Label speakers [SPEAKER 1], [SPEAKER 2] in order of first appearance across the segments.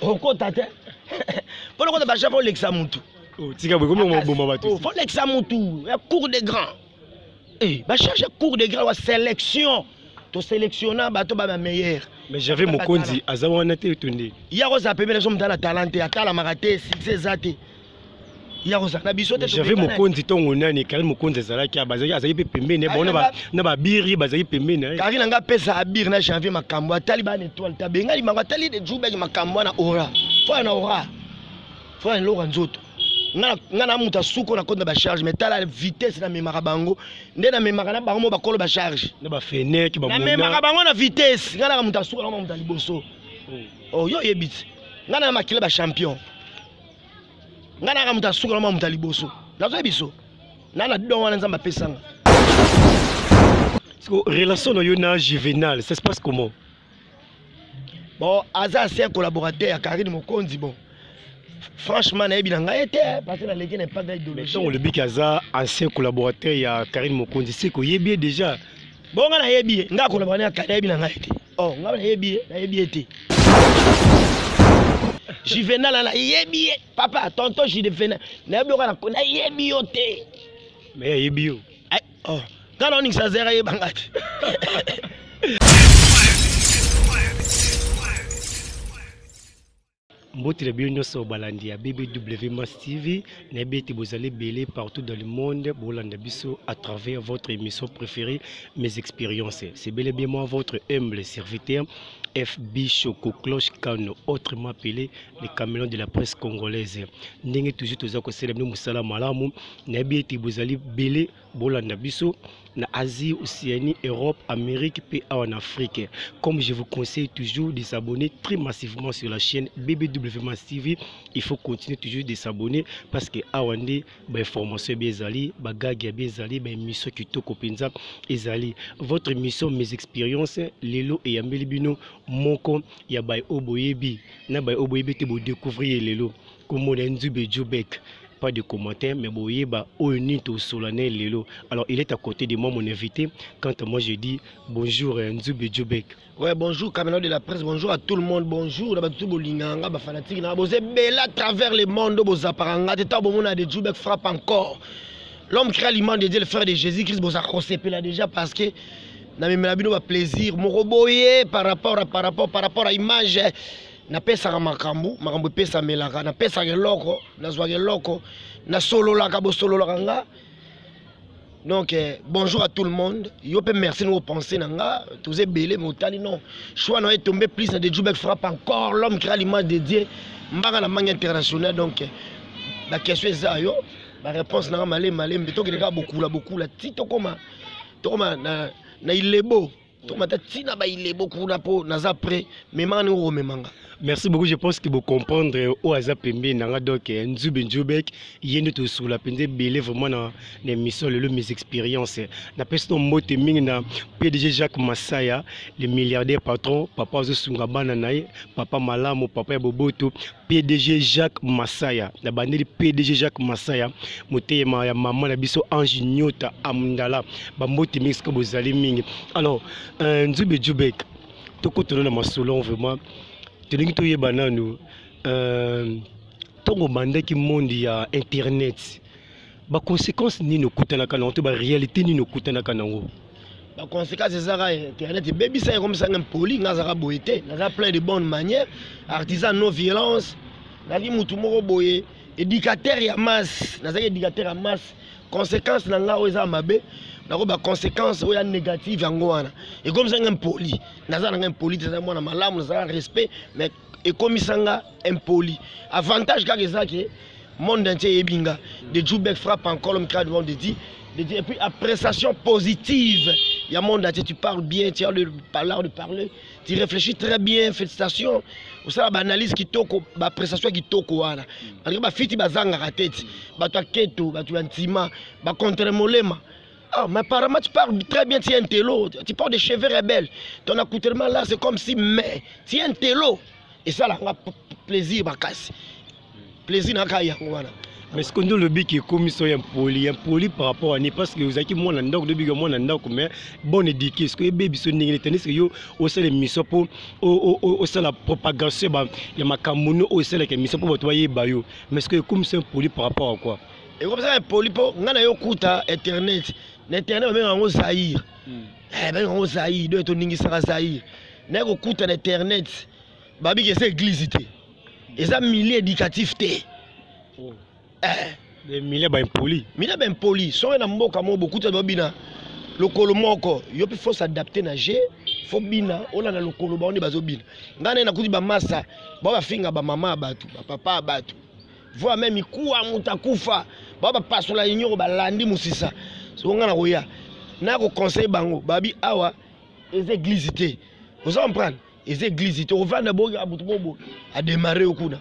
[SPEAKER 1] okota te mpo na kota bajaka olekisa motu oh, tika boye komi
[SPEAKER 2] boma bato oh, folekisa motu
[SPEAKER 1] ya cour de grand eh, bacharge cour de grand wa sélection toselektiona bato ba bameilleur mais j'avais mokonzi
[SPEAKER 2] aza wana te to nde ye akozala pembe nazo
[SPEAKER 1] motala talent te atalamaka te succès eza te ya kozala na biso te jave mokonzi ntongo
[SPEAKER 2] nani kari mokonzi ezalaki bazalaki azalaki mpe pembeni bango na babiri bazalaki pembeni eh. kari na ngai apesa
[SPEAKER 1] abiri na janvier makambo atali bana etoile te abengani bango atali de jubaki makambo wana ora fo na ora fo na eloko ya nzoto nga na moto asuko na koti na bacharge mai tala vitesse namemaka bango nde namemaka na bango mo bakolo bacharge namemaka
[SPEAKER 2] bango na
[SPEAKER 1] vitesse nga naka moto asuka naka moto ya liboso oyo oh, oyebisi nga na makila bachampion ngai naka moto asuka na mwa moto ya liboso nazoya biso na na don wana nzambe apesanga
[SPEAKER 2] siko relation na yo na juvenal ça se passe comment
[SPEAKER 1] bon aza ase collaborateur ya karine mokonzi bon franchement nayebi na ngai te eh, parce naleki na epaga idologie ntango olobiki aza
[SPEAKER 2] ancien collaborateur ya karine mokonzi siko oyebi ye déjà Bon, nga nayebi
[SPEAKER 1] ye, nga koloba na kala yebi na ngai te. Oh, nga nayebi ye, nayebi ye te. Juvenal na yebi ye, papa, tonton Juvenal, nayebi oka na ko nayebi yo te. Mais ayebi
[SPEAKER 2] yo. Ay, oh, nga
[SPEAKER 1] na oningisa zera ye bangati.
[SPEAKER 2] mbote na bino nyonso balandi ya bbw mas tv nayebi ete bozali ebele partout dans le monde bolanda biso à travers votre émission préférée mes expériences c'est bel et bien moi votre humble serviteur fb choco cloche kano autrement appelé le camelon de la presse congolaise ndenge toujours toza kosala bino mosala malamu nayebi ete bozali bele bolanda biso na asie océanie europe amérique mpe awa na afrique comme je vous conseille toujours de s'abonner très massivement sur la chaîne bbw mas tv il faut continuer toujours de s'abonner parce que awa nde bainformation ebe ezali bagage yabe ezali baémission kitoko mpenza ezali votre émission mes expériences lelo eyambeli bino moko ya baye oyo boyebi na baye oyo boyebi te bodécouvrir ye lelo kombo na ye nzube jobek pas de commentaire mais boyeba oyo nini tosola na ye lelo alors il est à côté de moi mon invité quant à moi je dis bonjour euh, nzube jobek Ouais, bonjour Camelot
[SPEAKER 1] de la presse, bonjour à tout le monde, bonjour na batu bolinga nga ba fanatique na boze bela à travers le monde bozaparanga te ta bomona de Jubek frappe encore. L'homme qui a l'image de Dieu le frère de Jésus-Christ boza kosepela déjà parce que na memela bino ba plaisir moko boye par rapport à par rapport par rapport à image napesaka makambo makambo epesamelaka napesaka eloko nazwaka eloko nasololaka bosololaka nga donc eh, bonjour à tout le monde yo mpe merci na opense na nga toza ebele me otali non choix na yo etombe plus na de jubek frappe encore l'homme créa l'image de dieu mbanga na mangi international donc eh, baquestion eza yo baréponse na nga malembe malembe tokende kaka bokula bokula ti tokoma tokoma na, na ilebo tomata ntina bailebo kuna mpo naza près memanga ndenge okomemanga merci beaucoup je pense
[SPEAKER 2] que bocomprendre oyo oh, aza pembeni nanga donc eh, nzube nzubek ye nde tosukola mpenza ebele vraiment na, na émission lelo mes expérience napesi no mbote mingi na pdg jacques masaya le milliardaire patron papa azosunga bana na ye papa malamu papa ya boboto PDG Jacques Masaya na bandeli PDG Jacques Masaya motema ya mama na biso Ange Nyota Amundala bambote mingi sika bozali mingi alors euh, Nzube Djubek tokotana na masolo vraiment tolingi toyeba nanu euh, ntongo obandaki monde ya internet ba conséquences nini okutanaka nango to ba réalité nini okutanaka nango ba conséquences
[SPEAKER 1] ezaka internet ebebisa ye komisa nga mpoli nga azaka boye te naza plein de bonne manière artisan non violence nazali motu moko boye éducateur ya masse nazalaki éducateur ya masse conséquence na nga oyo eza mabe nako ba conséquence oyo ya négative yango wana ekomisa nga mpoli naza na nga mpoli te naza mwana malamu naza respect mais ekomisa nga impoli avantage kaka eza ke monde entier eyebi nga de jubek frappe en colom crade monde dit et puis appréciation positive ya monde entier tu parles bien tu as le l'art de parler tu réfléchis très bien félicitations osala baanalyse kitoko baappréciation ya kitoko wana malgré bafiti bazangaka te ti bato ya keto bato ya ntima bacontre molema Ah, mais apparemment, tu parles très bien, tu es un télo. Tu parles des cheveux rebelles. Ton accoutrement là, c'est comme si, mais, tu es un télo. Et ça, là, on a plaisir, ma casse. Plaisir, n'a qu'à y avoir. mais sikoyo nde olobiki
[SPEAKER 2] ekomi so ya mpoli ya mpoli par rapport ani parce que ozalaki mwana ndako nde obiki mwana ndako mais bon éduqué sikoyo ebebi biso ndenge nete ndisike yo osala émission mpo osala propagation ya makambo no oyo esalaka émission mpo bato bayeba yo mais sikoyo ekomi so ya mpoli par rapport à quoi ekopesaka epoli
[SPEAKER 1] mpo ngai na yo kuta internet na internet babenga yango zaire hmm. eh, babenga yango zaire donc toningisaka zaire naye kokuta na internet babiki eza eglise te eza milieu éducatif te oh. eh.
[SPEAKER 2] milieu baimpoli milieu baimpoli soki
[SPEAKER 1] na mboka moko bokuta babina lokolo moko yo mpe fo s'adapte na je fo bina olanda lokolo bango nde bazobina ngai naye nakuti bamasa bao bafinga bamama ya bato bapapa ya bato voire même mikuwa moto akufa bao bapasola inyoko balandi mosisa soko ngai nakoya nakoconseille bango babi awa eza eglise te oza comprendre eza eglise te ovanda boki moto moko boki ademare yo kuna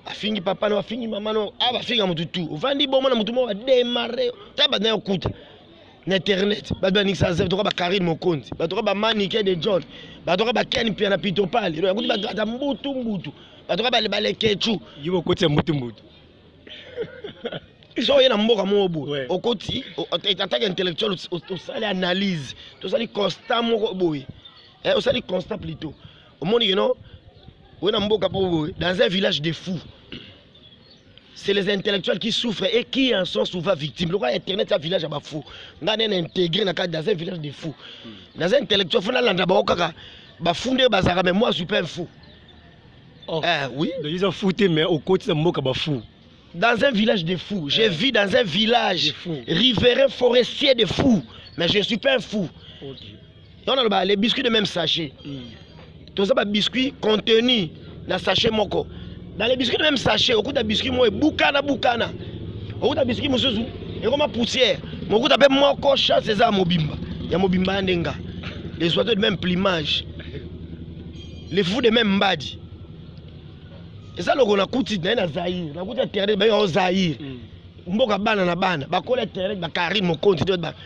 [SPEAKER 1] afingi papa no afingi mama no a bafinga moto tu ovandi bomona moto moko ademare ta banda yo kuta na internet bato baningisa zef toka bakarine mokonzi bato toka bamanike de john bato toka baken pia na pitopale elo yakuti bato ata mbutu mbutu bato toka balekecu yo okoti ya mbutu
[SPEAKER 2] mbutu
[SPEAKER 1] so oye na mboka moko boye okoti atake intellectuel osali analyse tosali constat moko boye eh, osali constat plutôt omoni keno oye na mboka moko boye dans un village de fou c'est les intellectuels qui souffrent et qui en sont souvent victimes lokola internet ya village ya bafou ngai nene intégré na kati dans un village de fou naza intellectuel fo nalanda bango kaka bafou nde bazalaka mais moi je suis pas un fou oh. eh, oui donc ils ont fouté
[SPEAKER 2] mais okotisa mboka bafou dans un village
[SPEAKER 1] de fous. Je vis dans un village riverain forestier de fous. Mais je ne suis pas un fou. yango naloba les biscuits de même sachet hmm. toza ba biscuits contenu na sachet moko dans les biscuits de même sachet okuta biscuit moko ebukana bukana okuta biscuit mosusu ekoma poussière mokuta mpe moko chasse eza ya mobimba ya mobimba ya ndenga les oiseaux de même plumage les fous de même mbadi eza loko nakuti naye na zaire nakuti ya terre bayo zaire mboka bana na bana bakola terre bakari mokonzi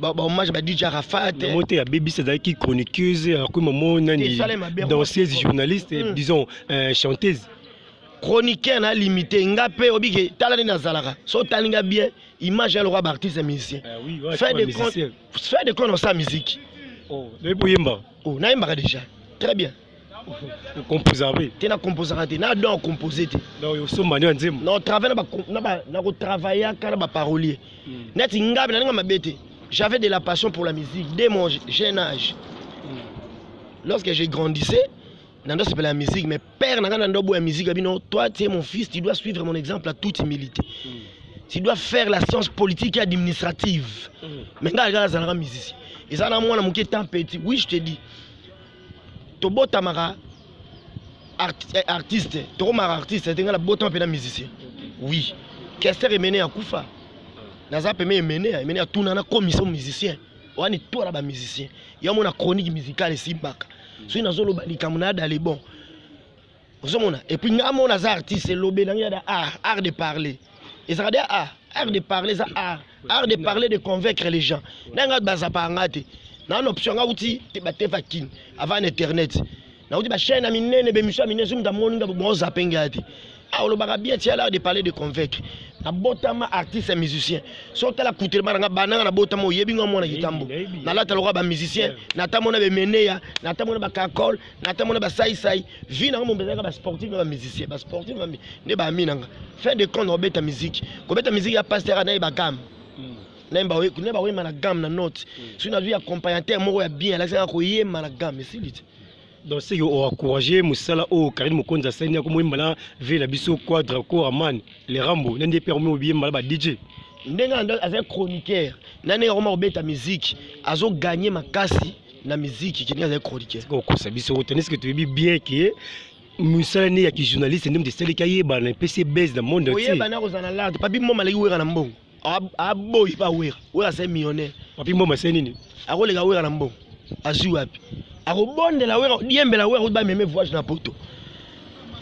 [SPEAKER 1] bahommage ba dj arafat yango te abebisi azalaki
[SPEAKER 2] chroniqueuse akomi mamo nani danseuse journaliste hmm. disons euh, chanteuse chroniqueur
[SPEAKER 1] na limité nga mpe obike tala nde nazalaka so otali nga bien image ya lokola baartiste musicien eh fait de compte osa musique oh,
[SPEAKER 2] oyemba oh nayembaka déjà
[SPEAKER 1] très bien okomposaka
[SPEAKER 2] mpe te nakomposaka
[SPEAKER 1] te na don ya compose te osomba nio ya
[SPEAKER 2] nzembo na travaille
[SPEAKER 1] na kotravaillaka na baparolier hmm. neti ngabe naninga mabe te j'avais de la passion pour la musique dès mon jeune âge hmm. lorsque je grandissais nando sepela ya musique mais père na nga nando boya musique ya bino toi tu es mon fils tu dois suivre mon exemple à toute humilité mm. tu dois faire la science politique et administrative mm. mais nga kaka azalaka musicien eza na mwana moke temps petit oui je te dis tobotamaka art, eh, artiste tokomaka artiste te nga nabotama mpe na musicien oui kester emene akufa naza peme emene emene atuna nakomisa musicien wani to na ba musicien ya mona chronique musicale esimbaka soki nazoloba likambo na yada le bon ozomona epuis ngai mona aza artiste elobe nange yada art art de parler ezalaka de art art de parler eza art art de parler de convaincre les gens ngai ngai bazapaka ngai te naa na option ngai uti batefa kin avant internet nauti bachaine ya minene bemission ya minene soki moto amoni ngai bozape ngai te Ah, olobaka bien tia l'art de parler de convaincre nabotama artiste ya musicien so otala kutelema na nga bananga nabotama oyebi nga mwana kitambo nalata lokola bamusicien natamona bemeneya natamona bakakol natamona basaisai vi nanga mombe ezalaka basportif na bamusicien basportif nde baami nanga fin de compte obeta miziki kobeta miziki ya pasteur naye bagame hmm. naye bakoyemba na game na note hmm. soki nazwi accompagnateur moko ya bien alakisaka koyemba na game esili te donc seke
[SPEAKER 2] oencourage mosala oyo karine mokonzi asali yako moyemba na vie na biso quadra ko aman le rambo na nde mpe yakomi obiyemba na ba dj ndenge azali
[SPEAKER 1] chroniqueur na ndenge akoma kobeta miziki azoganye makasi na miziki kendenge azali chroniqueur okosa biso otaniske
[SPEAKER 2] toyebi bien ke mosala ne ya kijournaliste nde moto esaleki ayebana epesi ye base na monde oyebana akozala na larde papi
[SPEAKER 1] moma aleki wera na mbongo aboyi pa wera wera se millionnaire papi mboma se nini
[SPEAKER 2] akoleka wera na mbongo
[SPEAKER 1] azwi wapi akobondela wera diembela wera kuti bameme voyage na poto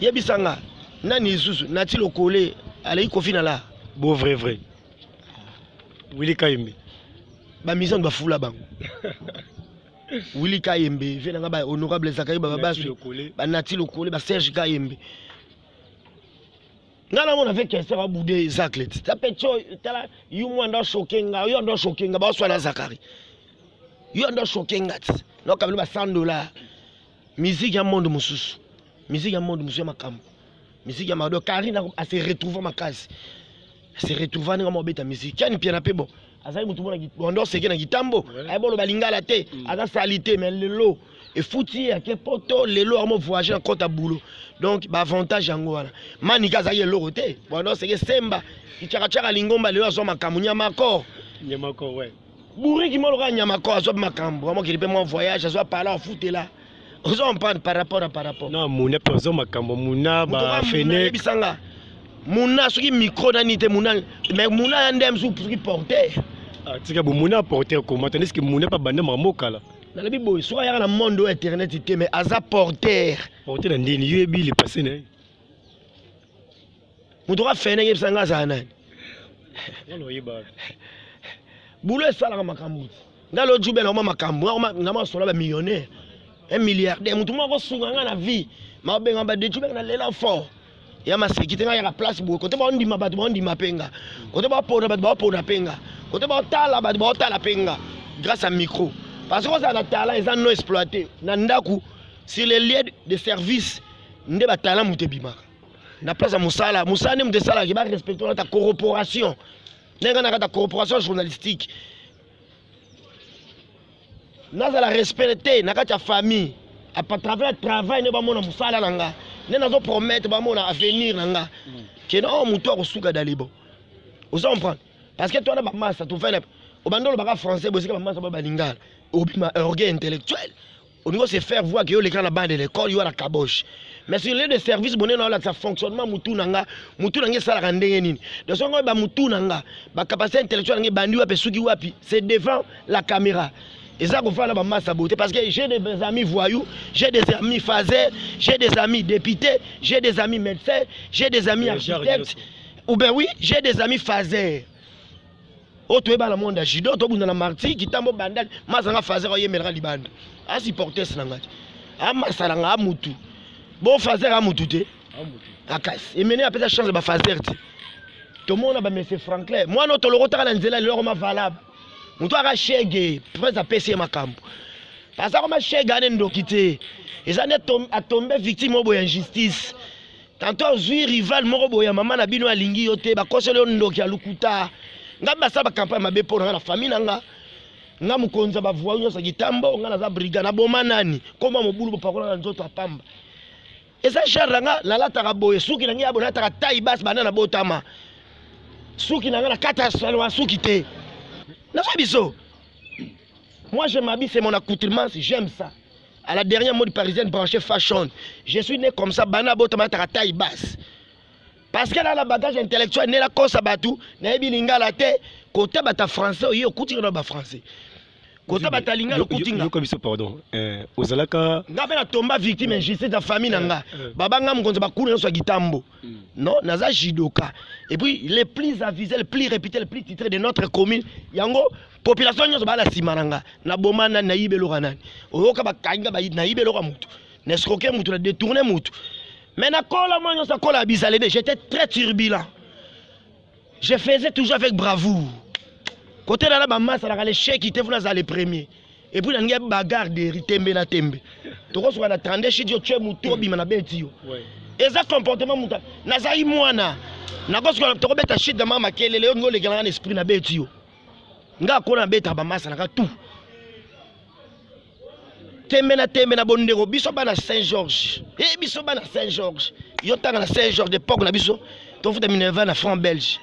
[SPEAKER 1] yebisa nga nani lisusu nati lokole aleki kofi na la bo vrai vrai
[SPEAKER 2] wili kayembe bamisani
[SPEAKER 1] bafula bango wili kayembe vie na nga ba honorable zakari bababaswi banati lokole baserge kayembe nga namona mpe kese babude zacle ti ta mpe tio tala yo mwa ndo ashoke nga yo ando ashoke nga baoswana zakari yo ando ashoke nga ti nokabeli ba 100 dollar musique ya monde mosusu musique ya monde mosusu ya makambo musique ya mado karine ase retrouva makasi ase retrouva ndenge mobeta musique yani mpiana mpe bon azali motu mona wanda oseke na kitambo ayeba oloba lingala te mm. aza sali te mais lelo efuti ye ake poto lelo yango voyage na kota boulot donc baavantage yango wana manika azalaki eloko te wanda oseke semba kicakacaka lingomba lelo azwa makambo nyamakor nyamakor we
[SPEAKER 2] buriki moloka
[SPEAKER 1] nyamakor azwa makambo amokili mpe mwa voyage azwa pala afutela ozo comprendre par rapport à par rapport na muna pe ozo
[SPEAKER 2] makambo muna ba fene bisanga
[SPEAKER 1] muna soki micro na nite muna mais muna ya ndem su soki porter ah, tika bo
[SPEAKER 2] muna porter comment tandis que muna pa bande makambo kala na lobi boy soki ayaka
[SPEAKER 1] na monde oyo internet te mais aza porter porter na ndini
[SPEAKER 2] yo ebi le passé na ye
[SPEAKER 1] moto ka fene yebisa nga azala nani bulo esalaka makambo ti nga lo jube nakoma makambo nga masola bamillionnaire un milliardaire moto moko akosunga nga na vie mabenga badejube na lela fort ya maseki te nga yaka place boye kote baondima bato baondima mpe nga kote bapona bato baopona mpe nga kote baotala bato baotala mpe nga grâce à micro parce que ozala na talent eza non exploité na ndako sur les lieux de service nde batalant moto ebimaka na place ya mosala mosala nde moto esalaki barespecte kata corporation ndenge na kata corporation journalistique nazala respect te na kati ya famille apatravers ya travail nde bamona mosala na nga nde nazo promettre bamona avenir na nga mm. kena oyo oh, motu akosuka dalibo oza comprendre parce que twana bamasa tofele obandi olobaka français bosika bamasa ba balingala obima orgueil intellectuel olingi ose faire voir ke yo oleka na bana de l'école yo na kaboche mais sur lieu de service bonene olakisa fonctionnement mutu na nga mutu na nga esalaka ndenge nini de songo oyeba mutu na nga bacapacité intellectuelle na nga ebandi wapi esuki wapi c'est devant la caméra eza kofala na bamasa boye te parce que j'ai des amis voyous j'ai des amis faser j'ai des amis députés j'ai des amis médecins j'ai des amis architectes ou ben oui j'ai des amis faser oyo toyeba na monde ya judo tobunda na marti kitambo bandali mazanga fazer oyemelaka libanda asupportes na ngai te amasala ngaa mutu bo fazer a mutu te akasi emene apesa chance ba fazer te tomona ba monsieur franklin mwana oyo tolokotaka na nzela lelo akoma valable moto aka shege prince apesi ye makambo aza koma shege ane ndoki te eza nde atombe victime oyo boya injustice tanto ozwi rival moko boye ya mama na bino alingi yo te bakoseli yo ndoki ya lokuta ngai basala bakampagne mabe mpo na ngai na famille na ngai nga mokonzi ya bavua nyonso ya kitambo nga naza briga naboma nani koma mobulu bopakola na nzoto apamba eza genre na nga nalataka boye suki na ngai ya boye nalataka tai basi banda na botama suki na ngai na kata salwa suki te naza biso Moi, je m'habille, c'est mon accoutrement, j'aime ça. À la dernière mode parisienne branchée fashion, je suis né comme ça, bana botama ta taille basse. Parce qu'elle a la bagage intellectuel, nela kosa batu, nayebi lingala te, kota bata français, oye okuti na ba français. Kota bata lingala okuti nga. Yoko biso pardon.
[SPEAKER 2] Euh, ozalaka nga pe na tomba victime
[SPEAKER 1] injustice na famille na nga. Euh, euh. Baba nga mukonza ba kuna so gitambo. Mm. Non, naza judoka. Et puis les plus avisés, les plus réputés, les plus titrés de notre commune, yango population nyonso baa na nsima na nga naboma nani nayiba eloko ya nani oyoka bakangi nayiba eloko ya motu na escroke motu na détourne motu mais nakola mwa nyonso akola ya bizalede j'étais très turbulent je faisais toujours avec bravoure kote nana bamasalaka lesheki te funa azala le premier epuis nalingi ya bagarre deri tembe na tembe tokosuka na 32 shit yo tue motu obima na beti yo eza comportement motu nazali mwana nakosuka tokobeta shit na mama makelele yo ningi olekelanga na esprit na beti yo nga akona nabetaka bamasa naka tout tembe na tembe na bondeko biso bana saint georges e eh, biso bana saint georges yo ntanga na saint georges epoque na biso tofuta minerva na franc belge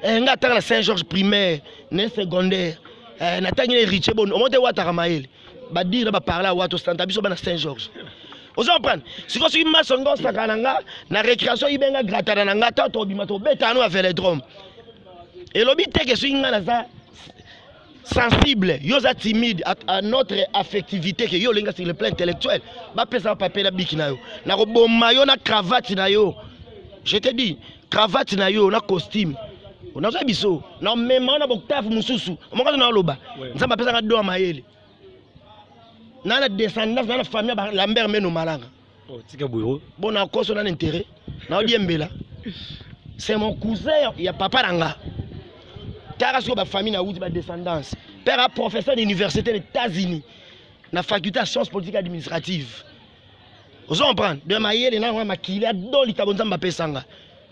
[SPEAKER 1] eh, nga atanga na saint georges primaire ne secondaire eh, natangi na héritier boni omo te wataka mayele badire na baparla wa tosanta biso bana saint georges ozo comprendre sikoyo soki maso nga osakana na nga na récréation ibenga gratana na nga ta tobima tobeta no ya veledrome elobi te ke soki ngai naza sensible yo oza timide à notre affectivité ke yo olinga sur le plan intellectuel bapesa papier na biki na yo nakoboma yo na cravate na yo je te dis cravate na yo na costume nazwa biso na mema na boktafu mosusu moko na oloba nzambe apesaka do ya mayele na na descendance na na famille ya lambert meno malanga Oh, tika boyo.
[SPEAKER 2] Bon na koso na
[SPEAKER 1] intérêt. Na odiembela. C'est mon cousin ya papa nanga. Tara sur ba famille na wuti ba descendance. Père a professeur d'université des États-Unis. Na faculté de sciences politiques administratives. Vous comprenez De ma yele na ma kila doli tabonza mbapesa nga.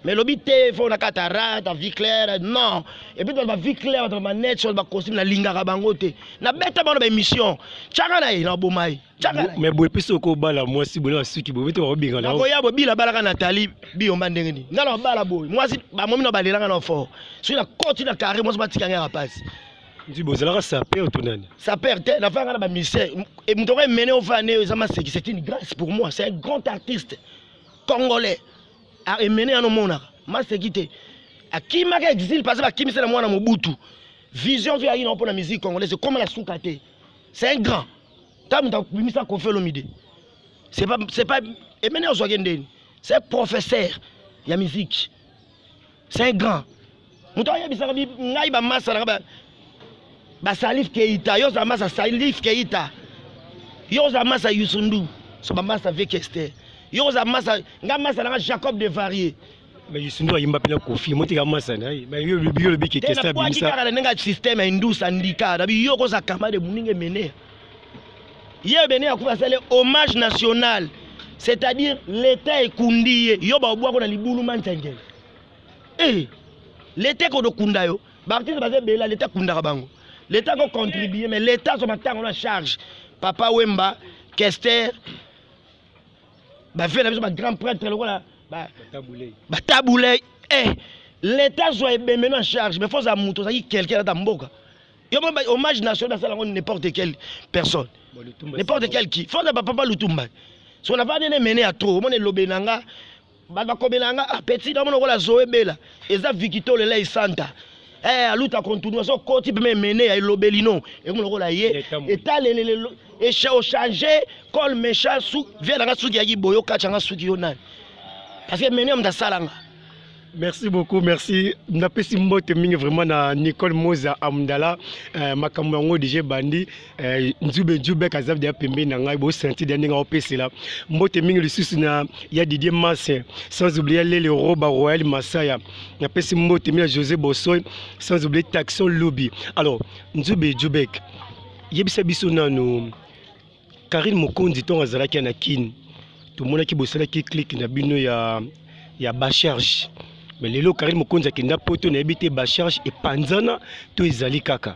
[SPEAKER 1] Mais lobi te faut na katara ta vie claire non. Et puis ba vie claire ba manette sur ba costume na lingaka bango te. Na beta bana ba émission. Chaka na ye na bomai. mais boye mpe
[SPEAKER 2] soki okobala mwasi boye na basuki boye bete bakobengana nakoya boye bila abalaka na
[SPEAKER 1] tali biyomba ndenge nini ngai nakobala boye mwasi bamomi na balelaka na fort soki nakoti na carré mwasi batika ngai na pasi nzi bozalaka
[SPEAKER 2] saper to nani saper te nafaya ngai na
[SPEAKER 1] bamusicien moto oko emene ofaya nde eza maseki c'est une grâce pour moi c'est un grand artiste congolais emene yana omonaka maseki te akimaka exile parce bakimisela mwana mobutu vision vi ayina mpo na musique congolaise ekoma na suka te c'est un grand ta mutu akobimisa kofi olomide c'est pas c'est pas emene ozwaki ndeni c'est professeur ya musique c'est un grand moto ayebisaka ngai bamasa nanga basalif keita yo ozala masa salif keita yo ozala masa yusundu so bamasa vekester yo kozala masa nga masa nanga jacob de varier mais yesu nde
[SPEAKER 2] ayimba mpe na kofi motika masana biyo lobi kekesabimisa na ndenge ya systeme ya
[SPEAKER 1] indus andika na biyo okoza kama de moninga emene ye bene akufa asali hommage national c'est-à-dire l'état ekundi ye yo baobwako na libulu manzengele e l'état ekodo kunda yo baartiste baza ebela l'état ekundaka bango l'état akocontribue mais l'état azwa matango na charge papa wemba kester bavie na biso bagrand prêtre lokola batabulei eh, leta azwa ebemeno en charge mais foza moto ozalaki quelqu'un ata mboka yo mo hommage national basala yango n'importe quelle personne n'importe quel qui foza bapapa lutumba so navandi ne mene ya trop omona elobe na nga bato bakomela yanga ah, petit namona okola zoe bela eza vikito lela esanta eh, aluta kontunu azo koti mpe memene ya elobeli no ekomona okola ye etalelele ochange col mecha vie nanga suki yaki boyo kacha nga suki yo nani parce que mene ya moto asalanga merci
[SPEAKER 2] beaucoup merci napesi mbote mingi vraiment na nicole moza amdala eh, makambo yango deja ebandi Eh, nzube nzube kazabdi ya pembeni na ngai bosentide ya ndenge aopesela mbote mingi lisusu na ya didier mase sans oublie ya lele roba royal masaya napesi mbote mingi ya josé bosoy sans oublie taxon lobi alors nzube jubek yebisa biso nanu karine mokonzi ntongo azalaki ya na kine tomonaki bosalaki clike na bino ya, ya bacharge mais lelo karine mokonzi akenda poto nayebi te bacharge epanzana to ezali kaka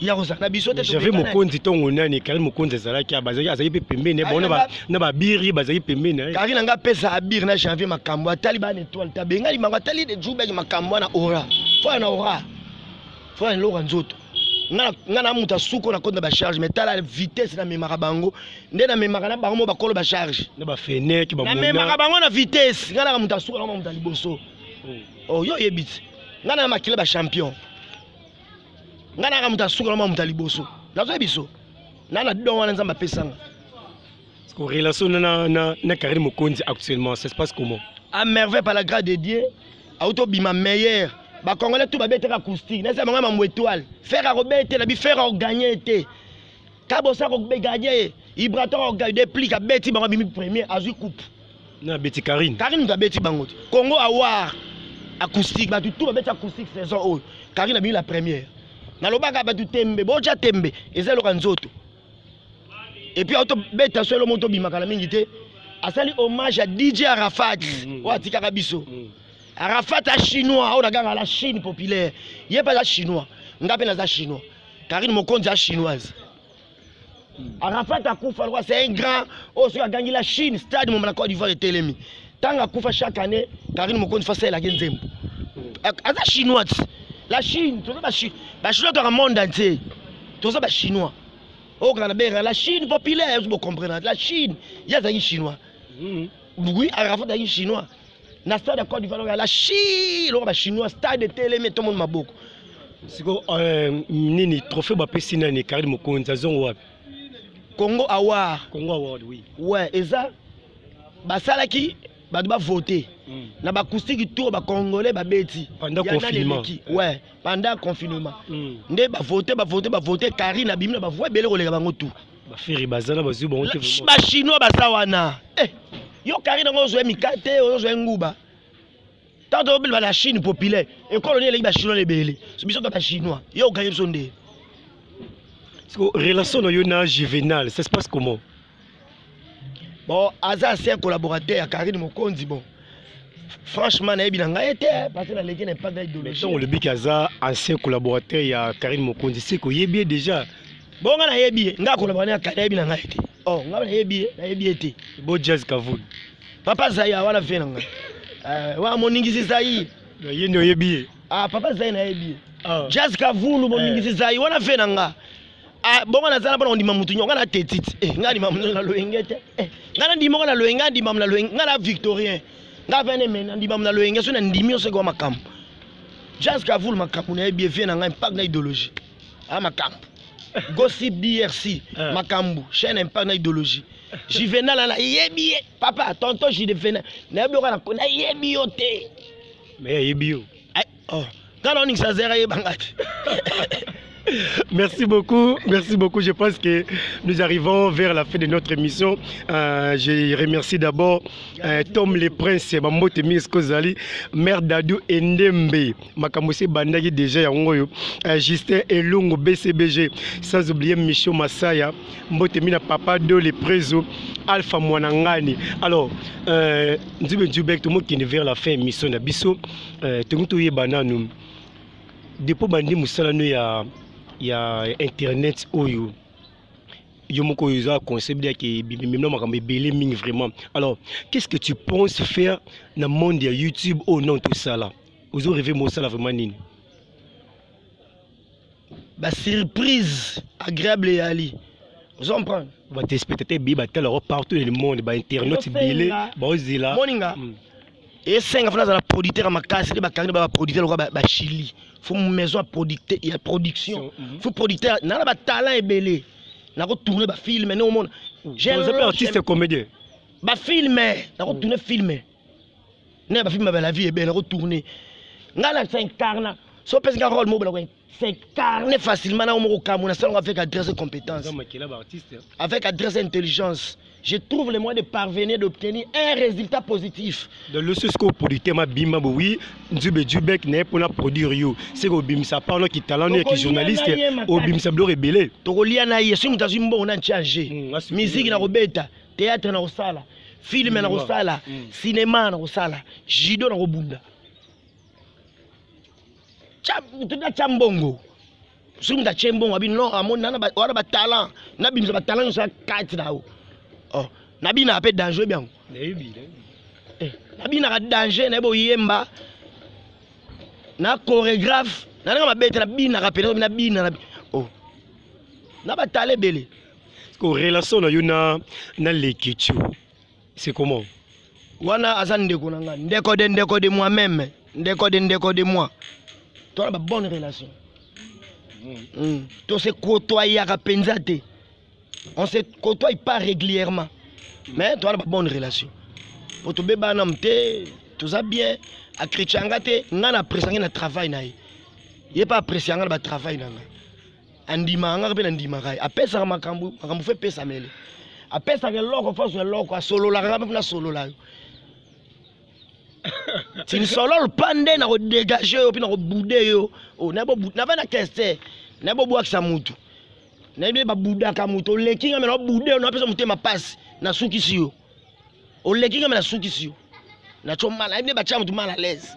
[SPEAKER 1] ya kozala na biso te jave mokonzi ntongo
[SPEAKER 2] nani kari mokonzi ezalaki bazalaki azalaki mpe pembeni bango na babiri bazalaki pembeni eh. kari na ngai apesa abiri
[SPEAKER 1] na janvier makambo atali bana etoile te abengani bango atali de jubaki makambo wana ora foya na ora foya na eloko ya nzoto ngai na moto asuko na koti na bacharge mai tala vitesse namemaka bango nde namemaka na bango mo bakolo bacharge na bafeneke
[SPEAKER 2] namemaka bango na
[SPEAKER 1] vitesse ngai naka moto asuko na moto ya liboso hmm. oyo oh, oyebi te ngai na makila bachampion ngai naka moto asuka na mwa moto ya liboso nazoya biso na na don wana nzambe apesanga
[SPEAKER 2] relation na, na, na carine mokonzi actuellement ça se passe comment à merveille par la
[SPEAKER 1] grâce de dieu auti obima meilleur bacongolais tout babetaka acoustique nayesa bango ya mambo étoile fere akobetela bi fere oganye te kabosa kogagner ye ibraton akogagner plik abeti bango abimi premier azwi coupe na abeti
[SPEAKER 2] karine karine moto abeti bango te
[SPEAKER 1] congo awar acoustique bato tu babeti acoustique saison oyo karine abimi la première nalobaka bato tembe botya tembe eza eloka nzoto epuis aotobeta so elo moto obimaka na mingi te asali hommage ya dj arafat mm, mm, oyo atikaka biso mm. arafat a chinois oyo naganga la chine populaire ye mpe aza chinois ngai mpe naza chinois Karine Mokonzi a chinoise. Arafat akufa lokola c'est un grand oyo oh, soki agangi la Chine stade moma na Côte d'Ivoire etelemi ntango akufa chaque année Karine Mokonzi fasi ayelaki nzembo aza chinois ti la Chine toza bachinois kaka monde entier toza bachinois okaka na bengaka la Chine populaire ozo bocomprendre la Chine ye azalaki chinois oui Arafat azalaki chinois na stade ya cote d'ivoire oyo ala shi eloko bachinois stade etelemi etomoni maboko siko euh,
[SPEAKER 2] nini trophée bapesi nani karine mokonzi azongo wapi congo
[SPEAKER 1] award congo award oui ouais
[SPEAKER 2] eza
[SPEAKER 1] basalaki bato bavote mm. na bacoustiki tour bacongolais babeti yanaleleki ouais
[SPEAKER 2] pendant
[SPEAKER 1] confinement mm. nde bavote bavote bavote karine abimi na bavoi ebele koleka bango tour bafiri baza na
[SPEAKER 2] bazwi bango te bachinois baza
[SPEAKER 1] wana eh, yo kari nango ozwa mikate ozwa nguba ntango tobeleba na chine populaire ekolo nini eleki bachinois ebele biso to bachinois yo okanye biso nde
[SPEAKER 2] relation na yo na juvenal ça se passe comment
[SPEAKER 1] bon aza ancien collaborateur ya karine mokonzi bon franchement nayebi na ngai te eh, parce naleki na impact ya idéologie ntongo olobiki aza
[SPEAKER 2] ancien collaborateur ya karine mokonzi seke oyebi ye déjà bongo ngai nayebi
[SPEAKER 1] ye ngai akolobaka na kari nayebi na ngai te o oh, ngai nayebi ye nayebi ye te bo jazz kavulu
[SPEAKER 2] papa zaya
[SPEAKER 1] wana vie na ngai eh, wana moningisi zai ye nde oyebi ye
[SPEAKER 2] ah, papa zai nayebi
[SPEAKER 1] ye ah. jazz kavulu moningisi eh. zai wana vie na ngai Ah, bongo naza na mpona kondima motu nyongo nga na tetite eh, nga ndima motu na loyenge te eh, nga na ndima ngo na loyenge nga ndima mo na loyenge nga na victorien nga vene me na ndima mo na loyenge so na ndimi yo soki wa makambo jas kavul makambo na ye bie vie na ngai impact na idéologie a ah, makambo gossip drc ah. makambo chaîne impact na idéologie juvenal ana yebi ye papa tonton juvenal nayebi yo kana nayebi yo te me ayebi
[SPEAKER 2] yo oh nga na
[SPEAKER 1] oningisa zera yebangaki
[SPEAKER 2] Merci beaucoup, merci beaucoup. Je pense que nous arrivons vers la fin de notre émission. Euh, je remercie d'abord euh, Tom le Prince, Mambote Miskozali, Mère Dadou Endembe, Makamose Bandagi déjà Yangoyo, euh, Justin Elungu, BCBG, sans oublier Micho Masaya, Mbote Mina Papa Do le Prezo, Alpha Mwanangani. Alors, euh, nous sommes vers la fin de l'émission. eh, tongi toyeba nanu depo bandi mosala no ya, ya internet oyo yo moko oyo eza concept yake bimemna makambo ebele mingi vraiment alors qu'est ce que tu penses faire na monde ya youtube oyo oh, non tosala ozo reve mosala vraiment nini
[SPEAKER 1] ba surprise agréable ya ali ozo comprendre ba téléspectateurs bi ba
[SPEAKER 2] tala partout dans le monde ba internautes bile ba ozila moninga mm.
[SPEAKER 1] esenga fana azala producteur ya makasi nde bakangi ba producteur lokola ba chili fo maison ya producteur ya production mm-hmm. fo producteur na na ba talent ebele na ko tourner ba film ne omona j'ai un artiste
[SPEAKER 2] comédien ba film
[SPEAKER 1] na ko tourner film na bafilme ba la vie ebele nako tourne ngai na s'incarna so opesi ngai role moko nako s'incarne facilement nao moko kamona salongo avec adresse et compétence avec adresse et intelligence je trouve le moyen de parvenir d'obtenir un résultat positif donc loso sikoyo
[SPEAKER 2] producteur mabima bo oui nzube dubek naye mpona produire yo seke obimisa pano kitalan no ya kijournaliste obimisa biloko ebele tokolia na ye soki moto
[SPEAKER 1] azwi mbongo na ntiange miziki nakobeta théâtre nakosala filme nakosala mm. cinema nakosala judo nakobunda moto natya mbongo soki moto atye mbongo abi non amoni wana batalent nabimisa batalent nyonso ya kati na yo oh, nabinaka mpe danger biango eh, nabinaka danger nayebi oyemba na chorégraphe nananga mabete nabinaka mpe nabina na oh. batala ebele ko relation
[SPEAKER 2] na yo na na lekichu c'est comment wana aza
[SPEAKER 1] ndeko na ngai ndeko de ndeko de moi même ndeko de ndeko de moi tona ba bonne relation mm. mm. to se côtoyaka mpenza te on se côtoie pas régulièrement mais tona ba bonne relation po tobebana m te toza bien akritia nga te ngai na appréciange na travail na ye ye mpe apprécianga na batravail na ngai andimaka ngaka mpe nandimaka ye apesaka makambo makambo fo epesamele apesaka eloko mpo azwa eloko asololaka nga mpe mpo nasolola yo tinisololo mpa nde nakodegage yo mpe nakobude yo oh, nava na keste naye bobwakisa motu nayebi nde babudaka motu oleki nga me naobude yo napesa motema mpasi nasukisi yo oleki nga me nasukisi yo naco mala nayebi nde batya motu mal à l'aise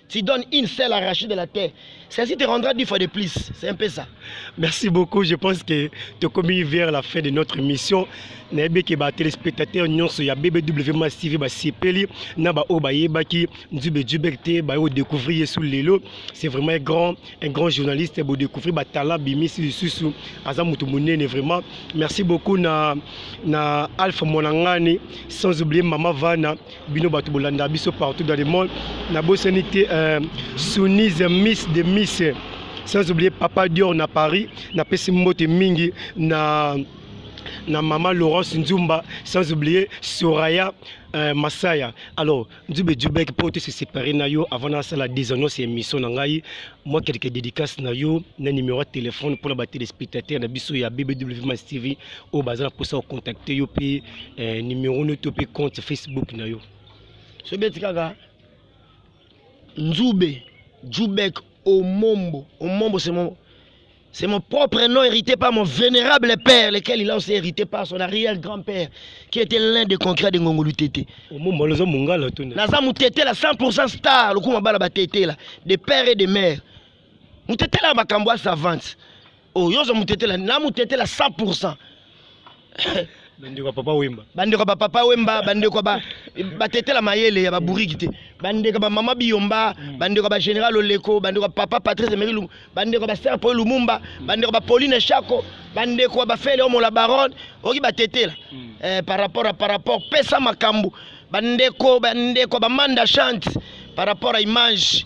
[SPEAKER 1] Tu donnes une seule arrachée de la terre. Celle-ci te rendra dix fois de plus. C'est un peu ça. Merci beaucoup.
[SPEAKER 2] Je pense que tu as commis vers la fin de notre émission. nayebi ke batelespectateur nyonso ya bbw mas tv basepeli na baoyo bayebaki nzube jubek te baye kodécouvrir ye su lelo c'est vraiment un grand un grand journaliste bodécouvrir batala bimisi lisusu aza moto monene vraiment merci beaucoup na, na alpha mwanangani sans oublier mama vana bino bato bolanda biso partout dans le monde nabosani te euh, sunise miss de miss sans oublier papa dior na paris napesi mbote mingi na na mama laurence nzumba sans oublier soraya euh, masaya alors nzube dubek mpo te se séparé na yo avant nasala désannonce ya émission na ngai mwa quelque dédicace na yo na numéro ya téléphone mpo na batéléspectateur na biso ya bbw mas tv oyo baza na mposa ya contacte yo mpe eh, numero no to mpe compte facebook na yo so beti
[SPEAKER 1] kaka nzube jubek omombo omombo c'est mon c'est mon propre nom hérité par mon vénérable père lequel il a aussi hérité par son arrière grand père qui était l'un des concrets de ngongo lutete omombo naza mongala to naza mutetela 100 star lokuma bala batetela de père et de mère mutetela ya makambo ya savante oyo oh, yozo mutetela na mutetela 100
[SPEAKER 2] bandeko ya papa wemba bandeko ya bapapa wemba
[SPEAKER 1] bandeko ya batetela mayele ya baburiki te bandeko ya bamama biyomba mm. bandeko ya bagénéral oleko bandeko ya papa patrice emeri lumbu bandeko ya baser poi lumumba mm. bandeko ya bapauline shako bandeko ya bafele omola barone oki batetela mm. eh, par rapport a par rapport pesa makambo bandeko bandeko ya bamanda chante par rapport a image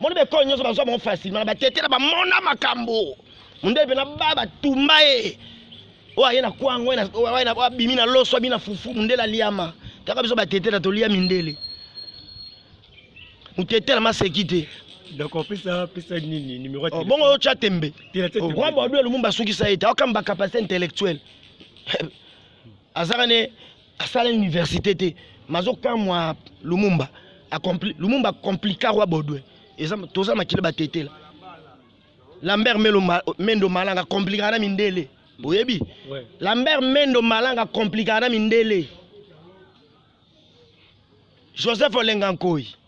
[SPEAKER 1] moni baekole nyonso bazwa bango facilement na batete na bamona makambo mondele mpena ba batumba ye oyo aye na kwango abimi na loso abimi na fufu mondele aliama kaka biso batetela tolia mindele motetela maseki te donc opesa
[SPEAKER 2] pesa nini numéro oh, bongo oyo tya tembe
[SPEAKER 1] roi badu ya lumumba asukisa ye te aokamba capacité intellectuelle azaka ne asala université te mazokamwa lumumba Accompli, lumumba complica roi baudouin toza makila batetela lambert melo ma, mendo malanga complikaka na mindele oyebi ouais. lambert mendo malanga complikaka na mindele joseph olenga nkoi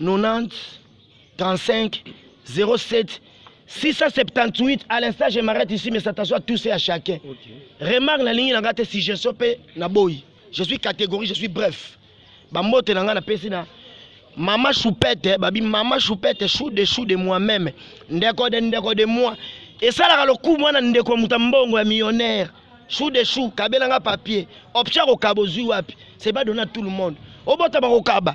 [SPEAKER 1] 90 35 07 678 à l'instant je m'arrête ici mais ça t'assoit tous et à chacun okay. remarque na lingi na nga te suggestion pe na boyi je suis catégorie je suis bref bambote na nga na pesi na mama choupette eh, babi mama choupette eh, chou de chou de moi même ndeko de ndeko de moi esalaka lokumu wana ndeko ya moto ya mbongo ya millionnaire chou de chou kabelanga papier option akokaba ozwi wapi c'est pas donné à tout le monde obota bakokaba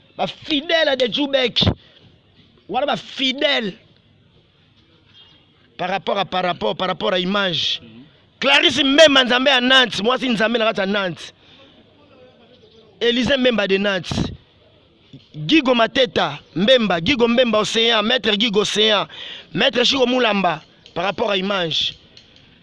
[SPEAKER 1] ba fidèle de jubek wana ba fidèle par rapport à par rapport par rapport à image mm -hmm. clarisse mbemba nzambe ya nantes mwasi nzambe na kati ya nantes elise mbemba de nantes gigo mateta mbemba gigo mbemba océan maître gigo océan maître chico mulamba par rapport à image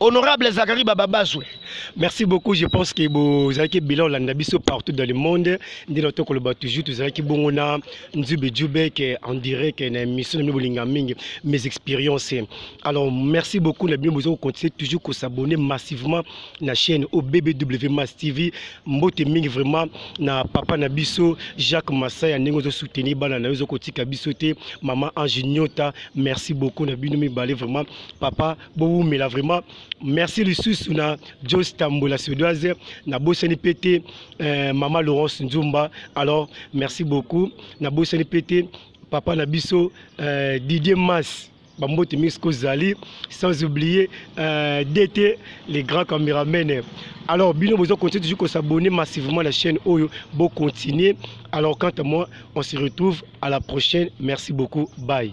[SPEAKER 1] Honorable Zachary Bababazwe, merci beaucoup.
[SPEAKER 2] Je pense que vous avez bilan landa biso partout dans le monde. Ndino to koloba toujours vous avez bongo na Nzube Djubek en direct na émission na bolinga mingi mes expériences. Alors merci beaucoup na bien vous continuer toujours ko s'abonner massivement na chaîne OBBW Mass TV. Mbote mingi vraiment na papa na biso Jacques Masaya ndenge zo soutenir bana na yo ko tika biso te maman Ange Nyota. Merci beaucoup na bino mibale vraiment papa bowumela vraiment merci lisusu na jos tambola suédoise nabosani mpe te euh, mama laurence nzumba alors merci beaucoup nabosani mpe te papa na biso euh, didier mas bambote mingi soki ozali sans oublier euh, dt les grands cameramen alors bino bozo continue toujours kosabonne massivement la chaîne oyo bocontinue alors quant à moi on se retrouve à la prochaine merci beaucoup bye